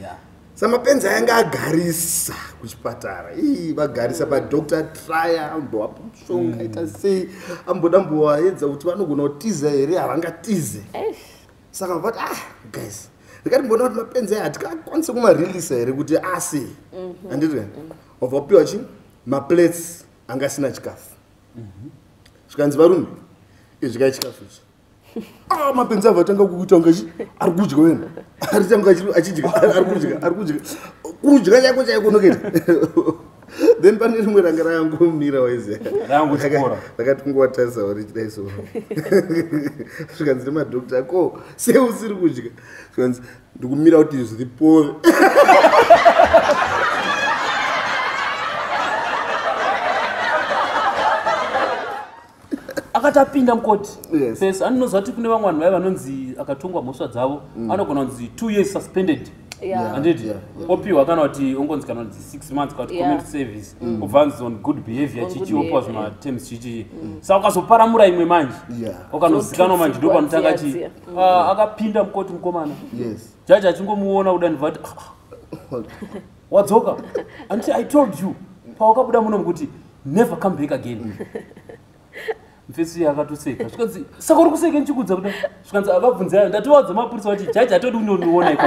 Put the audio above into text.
yeah. samapenzi ayanga agarisa kuchipatara ii vagarisa padoctor trya ambovapa mushonga ita mm. sei amboda mbovaedza kuti vanogona kutiza here havangatize saka vavati ah guys ndikati mbona kuti mapenzi aya hatikakwanise kumarelisa here kuti asi mhm. anditi mm -hmm. wabva kupiwa chi maplates anga asina chikafu mm -hmm. zvikanzi varume izvikai chikafu ichi Ah, mapenzi avo atanga kuita kunge ari kudya wena aritanga achidya ari kudya ari kudya kudya chaiko chaiko noketa then pane rimwe ranga rangomira waiziakati kungowatarisa wari chidai so zvikanzi nemadokta ko sei usiri kudya zvikanzi ndikumira kuti zviri pove akati apinda mukoti yes. yes. aninoziva kuti kune vamwe vanhu vaye vanonzi akatongwa mhosva dzavo mm. anogona kunzi two years suspended anditi opiwa kana kuti ongonzi kana kuti six months kana kuti community service mm. obva anzi on good behavior chichi opiwa zvimaterms chichii mm. sa ukazoparamura imwe manje ukanozikanwa manje ndo panotanga chii mm. ah, akapinda mukoti mukomana jaji achingomuona kuda ndivati ah, ah. wadzoka anti i told you pawakabuda muno mukuti never come back again mfesi akatoseka zvikanzi saka uri kuseke ndichikudza kuda zvikanzi akabvunza yayo ndatowadza mapurisa vati jaji atodi kundoniona iko